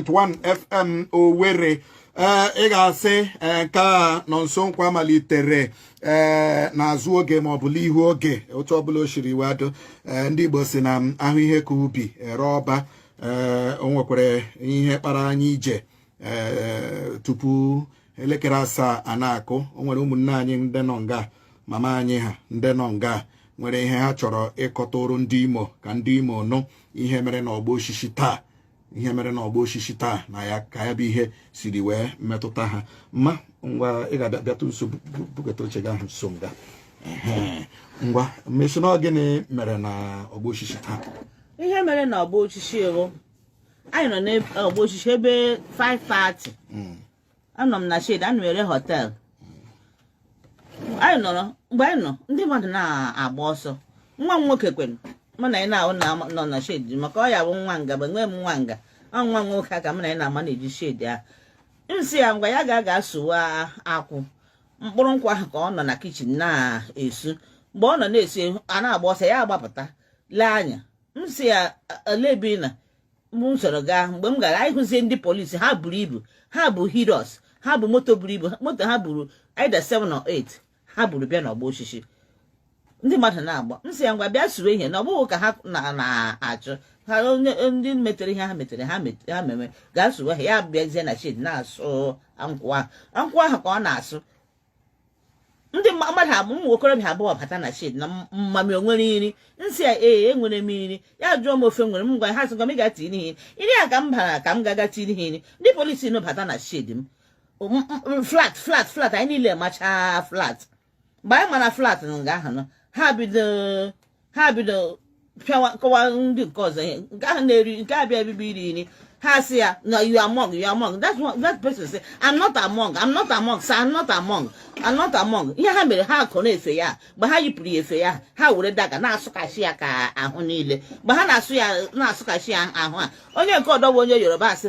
100.1 FM Owerri ee ị ga-asị ee nke a Nọnso Nkwa malitere ee n'azụ oge maọbụ n'ihu oge otu ọbụla o siri wee do ee ndị Igbo sị na a hụ ihe ka ubi e ree ọba ee o nwekwara ihe kpara anyị ije ee tupu elekere asaa a na-akụ o nwere ụmụnne anyị ndị nọ nga mama anyị ha ndị nọ nga nwere ihe ha chọrọ ịkọtụrụ ndị Imo ka ndị Imo nụ ihe mere n'ọgbọ osisi taa ihe mere na ọgbọ osisi taa na ya ka ya bụ ihe siri wee metụta ha mma ngwa ị ga-abịatụ nso bugata oche gị ahụ nso nga ngwa mmesi na ọ gịnị mere na ọgbọ osisi taa ihe mere na ọgbọ osisi ego anyị nọ n'ọgbọ osisi ebe 5:30 anọ m na shed ana m ere họtel anyị nọrọ mgbe anyị nọ ndị mmadụ na-agba ọsọ nwa m nwoke kwenụ mụ na ya na-anọ na shed maka ọ ya bụ nwa nga bụ enweghị m nwa nga ọ nwa m nwoke ka mụ na ya na-ama na-eji shed ahụ m sị ya ngwa ya gaga sụwa akwụ mkpụrụ nkwụ ahụ ka ọ nọ na kichin na-esu mgbe ọ nọ na-esu a na-agba ọsọ ya agbapụta lee anya m sị ya olebi na mụ m soro gaa mgbe m gara anyị hụzie ndị polisi ha buru ibu ha bu Hilux ha bu moto buru ibu moto ha buru either 7 or 8 ha buru bịa n'ọgbọ osisi ndị mmadụ na-agba m sị ya ngwa bịa suwe ihe na ọ bụghị ka ha na-achụ ha ndị metere ihe ha metere ha meme gaa suwe ha ya bịazie na shed na-asụ nkwụ ahụ nkwụ ahụ ka ọ na-asụ ndị mmadụ abụ ụmụ okorobịa abụọ bata na shed na mummy o nwere nri m sị ya ee enwere m nri ya jụọ m ofe nwere m ngwa ha sị ngwa m gaa tiiri ha nri a ka m bara ka m gaga tiiri ha nri ndị polisi nụ bata na shed m flat flat flat anyị niile machaa flat mgbe anyị mara flat na nga ahụ ha bido ha bido pịawa kụwa ndị nke ọzọ ihe nke ahụ na-eri nke abịa ebibi iri nri ha sị ya na you among you among that's what that person say i'm not among i'm not among sir i'm not among i'm not among ihe ha mere ha kọrọ efe ya mgbe ha yipụrụ ya efe ya ha were dagger na-asụkasị ya ka ahụ niile mgbe ha na-asụ ya na-asụkasị ya ahụ a onye nke ọdọ bụ onye Yoruba asị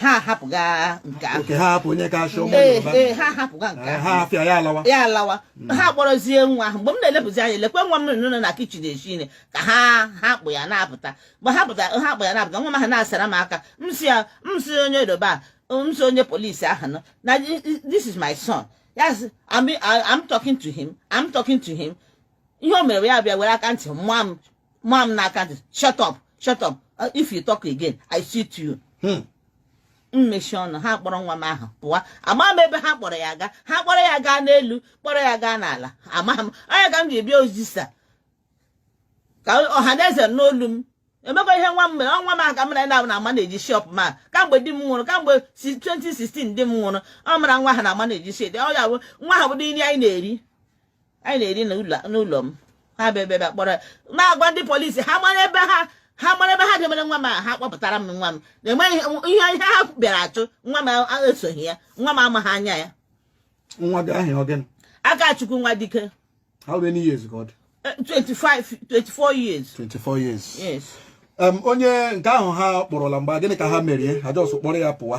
ha ahapụga nke ahụ okay ha hapụ onye ka achọ ụmụ ee Yoruba ee ha ahapụga nke Eh, ahụ ha ahafụ ya alawa ya alawa ha kpọrọzie nwa ahụ mgbe m na-elepụzi anya lekwe nwa m nọ nọ na kichin esi nri ka ha ha kpụ ya na-apụta mgbe ha pụta ha kpụ ya na-apụta nwa m ahụ na-asara m aka m sị ya m sị onye Yoruba a, m sị onye polisi ahụ nụ na this is my son yes I'm, I'm talking to him I'm talking to him ihe o mere ya bịa were aka ntị maa m maa m n'aka ntị shut up shut up uh, if you talk again i shoot you hmm. m mechie ọnụ ha kpọrọ nwa m ahụ pụwa amaghị m ebe ha kpọrọ ya aga ha kpọrọ ya gaa n'elu kpọrọ ya gaa n'ala amaghị m ọ ya ka m ji bịa ozisa ka ọha na eze nụ olu m enwekwa ihe nwa m mere ọ nwa m ahụ ka mụ na ya na-amanage shop m a kamgbe di m nwụrụ kamgbe 2016 di m nwụrụ ọ mụ na nwa ahụ na-amanage shop ọ ya bụ nwa ahụ bụ nri anyị na-eri anyị na-eri n'ụlọ m ha bịa bịa kpọrọ na-agwa ndị polisi ha mara ebe ha ha mara ebe ha debere nwa m ha kpọpụtara m nwa m na-enweghị ihe ihe ha bịara achụ nwa m esoghị ya nwa m amaghị anya ya nwa gị aha ya ọ gịnị Akachukwu Nwadike how many years old 25 24 years 24 years yes onye nke ahụ ha kpọrọ laa mgbe gịnị ka ha mere ha jọs kpọrọ ya pụwa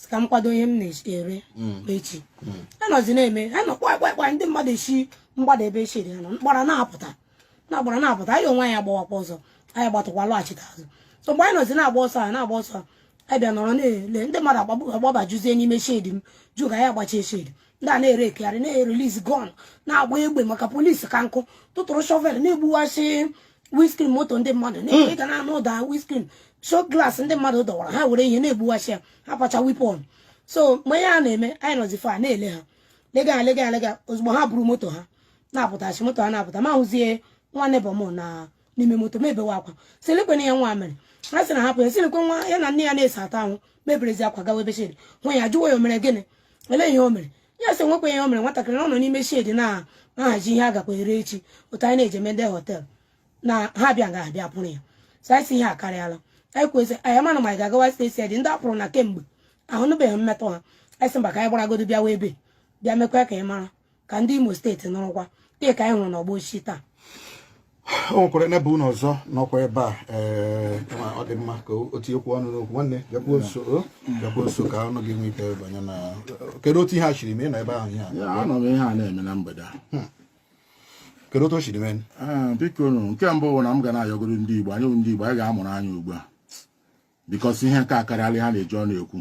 sị ka m kwado ihe m na-ere echi anyị nọzi na-eme a nụ kpa kpa kpa ndị mmadụ esi mgbada ebe shedi ha nọ gbara na-apụta gbara na-apụta anyị onwe anyị agbawakwa ọsọ anyị gbatụkwa lọghachite azụ so mgbe anyị nọzi na-agba ọsọ a na-agba ọsọ a anyị bịa nọrọ na-ele ndị mmadụ agbabajuzie n'ime shedi m jụ ka anyị agbachie shedi ndị a na-ere ekegharị na-erelease gun na-agba egbe maka polisi ka nkụ tụtụrụ shovel na-egbuwasị windscreen moto ndị mmadụ na ị ga na-anụ ụda windscreen show glass ndị mmadụ dọwara ha were ihe na-egbuwasị ya ha pacha weapon so mgbe ihe a na-eme anyị nọzi ebe a na-ele ha lega ha lega ha lega ozugbo ha buru moto ha na-apụtasị moto ha na-apụta m ahụzie nwa neighbor m na n'ime moto m ebewe akwa sị lekwenụ ya nwa mere a sị na hapụ ya sị lekwe nwa ya na nne ya na-esi ata ahụ m eberezi akwa gawa ebe shedi nwa ya jụwa ya o mere gịnị olee ihe o mere ya sị enwekwa ihe o mere nwatakịrị ọ nọ n'ime shedi na-ahazi ihe a gakwa ere echi otu anyị na-eji emede họtel na ha bịa ga abịa kpụrụ ya so anyị sị ihe a akarịala anyị kwesịrị anyị mana ma anyị ga-agawa steeti dị ndị a kpụrụ na kemgbe ahụ anụbeghị mmetụ ha anyị sị mba ka anyị gbaragodo bịawa ebe a bịa mekwa ka ị mara ka ndị Imo steeti nụrụkwa dịka anyị hụrụ n'ọgbọ osisi taa o nwekwara neighbor unu ọzọ nọkwa ebe a ee eh, ọ dị mma ka o tinyekwu ọnụ n'okwu nwanne bịakwuo nso bịakwuo nso ka ọnụ gị nwee ike banye na kedu otu ihe a shiri mee na ebe ahụ ihe a anọ m ihe a na-eme na mgbede a hmm. kedu otu o shiri mee eh, biko nke mbụ bụ na m ga na-ayọgoro ndị Igbo anyị ndị Igbo anyị ga-amụrụ anya ugbu a because ihe nke a akarịala a na-eji ọnụ ekwu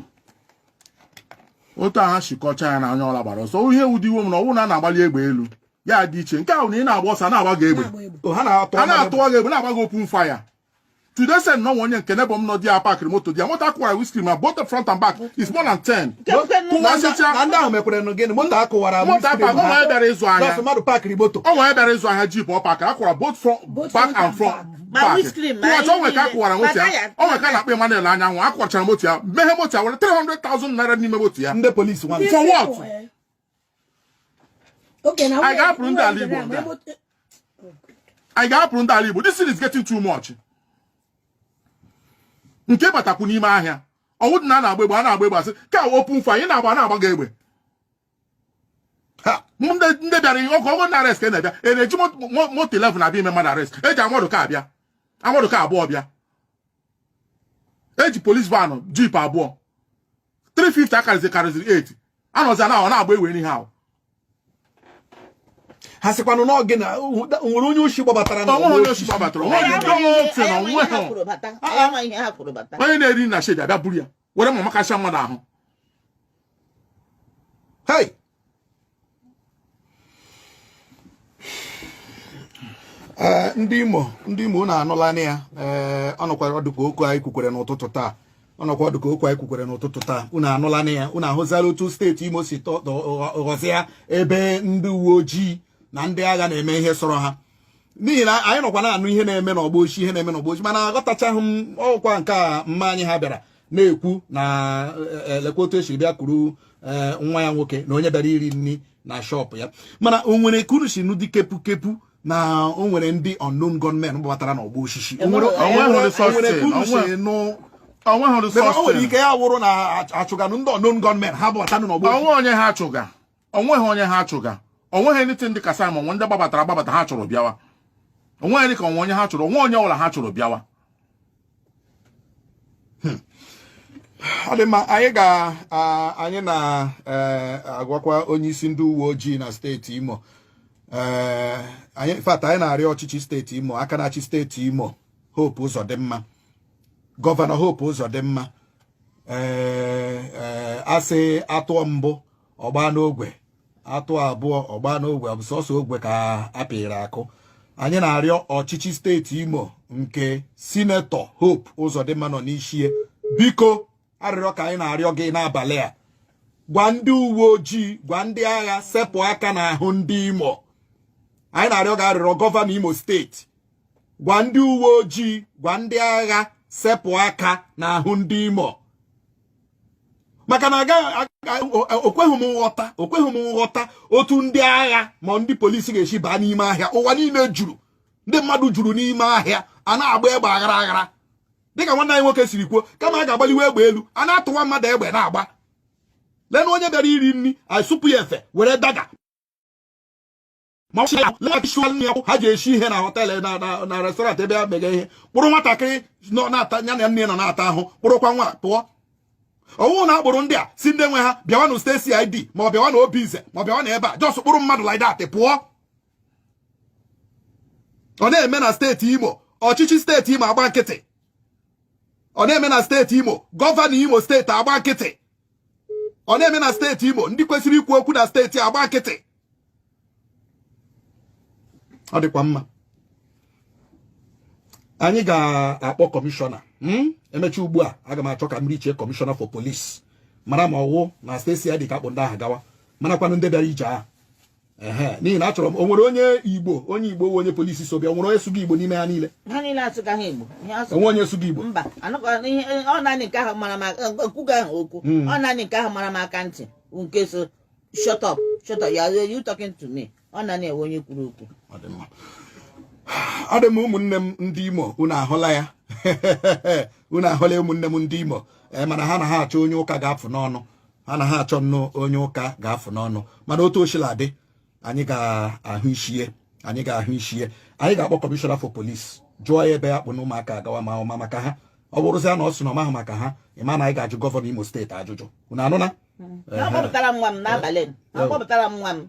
otu a ha shi kọcha ya na anyị all gbara ọsọ ihe wụdị iwe m na ọ wụ na a na-agbali egbe elu ya dị iche nke ahụ na ị na-agba ọsọ na-agba gị egbe a na-atụwa gị egbe na-agba gị open fire to the extent na onye nke neighbor m nọ di park moto di moto a kụwara windscreen ma both the front and back is more than 10 kụwasịcha ndị ahụ mekwere nụ gịnị moto a kụwara moto a kụwara o nwere bịara ịzụ ahịa o nwere bịara ịzụ ahịa jeep ọ pakara a kụwara both back and front ọchọ nwe ka akụwara moto ya o nwe nke a na-akpọ Emmanuel Anyanwụ a kụwachara moto ya meghe moto ya were 300,000 naira n'ime moto ya ndị polisi nwa for what anyị ga-apụrụ ndị a ala Igbo nga anyị ga-apụrụ ndị a ala Igbo this thing is getting too much nke batakwu n'ime ahịa ọ wụdị na a na-agba egbe a na-agba egbe a sị ka a open fire ị na-agba a na-agba gị egbe ndị bịara ihe ọkụ ọgụ na arrest ka a na-abịa a na-eji moto 11 abịa ime mmadụ arrest e ji armoured car abịa armoured car abụọ bịa e ji police van jeep abụọ 350 akarịzi karịziri 8 a nọzi na-agba egbe n'ihe ahụ ha sịkwanụ na gịnị na o nwere onye oshi gbabatara na o nwe onye oshi gbabatara onye na-eri na shedi abịa buru ya were mma makasịa mmadụ ahụ hey eh, ndị Imo ndị Imo unu anụla na ya eh, ọ nọkwara ọ dị ka okwu anyị kwukwere n'ụtụtụ taa ọ nọkwa ọ dị ka okwu anyị kwukwere n'ụtụtụ taa unu anụla na ya unu ahụzala otu steeti Imo si ghọzịa ebe ndị uwe ojii na ndị agha na-eme ihe sọrọ ha n'ihi na anyị nọkwa na-anụ ihe na-eme n'ọgbọ osisi ihe na-eme n'ọgbọ osisi mana aghọtachaghị m ọ kwa nke a mma anyị a bịara na-ekwu na e, e, lekwa otu e siri bịa kuru e, nwa ya nwoke na onye bịara iri nri na shọpụ ya mana o nwere ka unu si nụ dị kepu kepu na o nwere ndị unknown gunmen gbabatara n'ọgbọ osisi o nwere ike ya wụrụ na a chụganụ ndị unknown gunmen ha gbabatanụ n'ọgbọ o nwe onye ha chụga o nweghị onye ha chụga o nweghị anything dị ka a sị ma o nwe ndị gbabatara agbabata ha chụrụ bịawa o nweghị dị ka o nwe onye ha chụrụ o nwe onye ọ bụla ha chụrụ bịawa hmm. ọ dị mma anyị ga anyị na-agwakwa e, onye isi ndị uwe ojii na steeti Imo e, in fact anyị na-arịọ ọchịchị steeti Imo aka na-achị steeti Imo Hope Uzodimma gọvanọ Hope Uzodimma ee eh, eh, a sị a tụọ mbụ ọ gbaa n'ogwe a tụọ abụọ ọ gbaa n'ogwe ọ bụ sọsọ ogwe ka a pịịrị akụ anyị na-arịọ ọchịchị steeti Imo nke sinetọ Hope Ụzọdịmma nọ n'ishi ya biko arịrịọ ka anyị na-arịọ gị n'abalị a gwa ndị uwe ojii gwa ndị agha sepụ aka n'ahụ ndị Imo anyị na-arịọ gị arịrịọ gọvanọ Imo steeti gwa ndị uwe ojii gwa ndị agha sepụ aka n'ahụ ndị Imo maka na okweghị m nghọta okweghị m nghọta otu ndị agha ma ndị polisi ga-esi baa n'ime ahịa ụwa niile juru ndị mmadụ juru n'ime ahịa a na-agba egbe aghara aghara dịka nwanne anyị nwoke siri kwuo kama a ga-agbaliwe egbe elu a na-atụwa mmadụ egbe na-agba lenụ onye bịara iri nri na shọpụ ya efe were daga ma ọ sị ya laghachiwa nne ya ha ji esi ihe na hotel na restaurant ebe a mega ihe kpụrụ nwatakịrị nọ na-ata ya na nne nwata ahụ kpụrụkwa nwa pụọ ọ wụ na a kpụrụ ndị a sị ndị nwe ha bịawa na steeti CID ma ọ bịawa na obinze ma ọ bịawa na ebe a just kpụrụ mmadụ like that pụọ ọ na-eme na steeti imo ọchịchị steeti imo agba nkịtị ọ na-eme na steeti imo gọvanọ imo steeti agba nkịtị ọ na-eme na steeti imo ndị kwesịrị ikwu okwu na steeti agba nkịtị ọ dịkwa mma anyị ga-akpọ kọmishọna hmm? e mechi ugbu a aga m achọ ka m richie kọmishọna for police mara ma ọ wụ na steeti CID ka a kpụ ndị ahụ gawa marakwanụ ndị bịara ije ahụ n'ihi na achọrọ m o nwere onye igbo onye igbo onye polisi so bịa o nwere onye sụga igbo n'ime ha niile o nwere onye sụga igbo mba ọ naanị nke ahụ mara m aka ntị nke so shut up shut up you talking to me ọ naanị ya wụ onye kwuru okwu ọ dị mma ụmụnne m ndị imo unu ahụla ya unu ahụla ụmụnne m ndị imo eh, mana ha na ha achọ onye ụka ga-afụ n'ọnụ ha na ha achọ nnọọ onye ụka ga-afụ n'ọnụ mana otu o shila dị anyị ga-ahụ ishie anyị ga-ahụ ishie anyị ga-akpọ kọmishọna for police jụọ ya ebe ya kpụ na ụmụaka a gawa ma ọ ma maka ha ọ bụrụzia na ọ sị na ọ mahụ maka ha ị ma na anyị ga-ajụ gọvanọ imo steeti ajụjụ unu anụna ha kpọpụtara m nwa m n'abalị a ha kpọpụtara m nwa m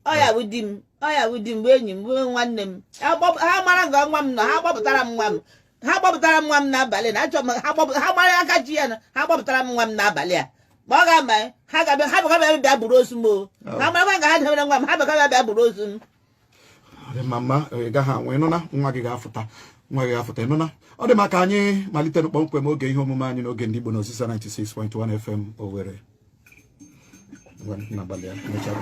ọ ya wụ di m ọ ya wụ di m wụ enyi m wụ nwanne m ha mara nga nwa m nọ ha kpọpụtara m nwa m ha kpọpụtara m nwa m n'abalị na achọ m ha mara aka ji ya na ha kpọpụtara m nwa m n'abalị a ma ọ ga-ama ha ga-abịa ha bịa bịa buru ozu m o ha marakwa nga ha debere nwa m ha bịa bịa buru ozu m mama ị gaghị anwụ ịnụna nwa gị ga-afụta nwa gị ga-afụta ịnụna ọ dị mma ka anyị malite na kpọmkwem oge ihe omume anyị n'oge ndị Igbo na Ozisa 96.1 FM Owerri n'abalị a mechara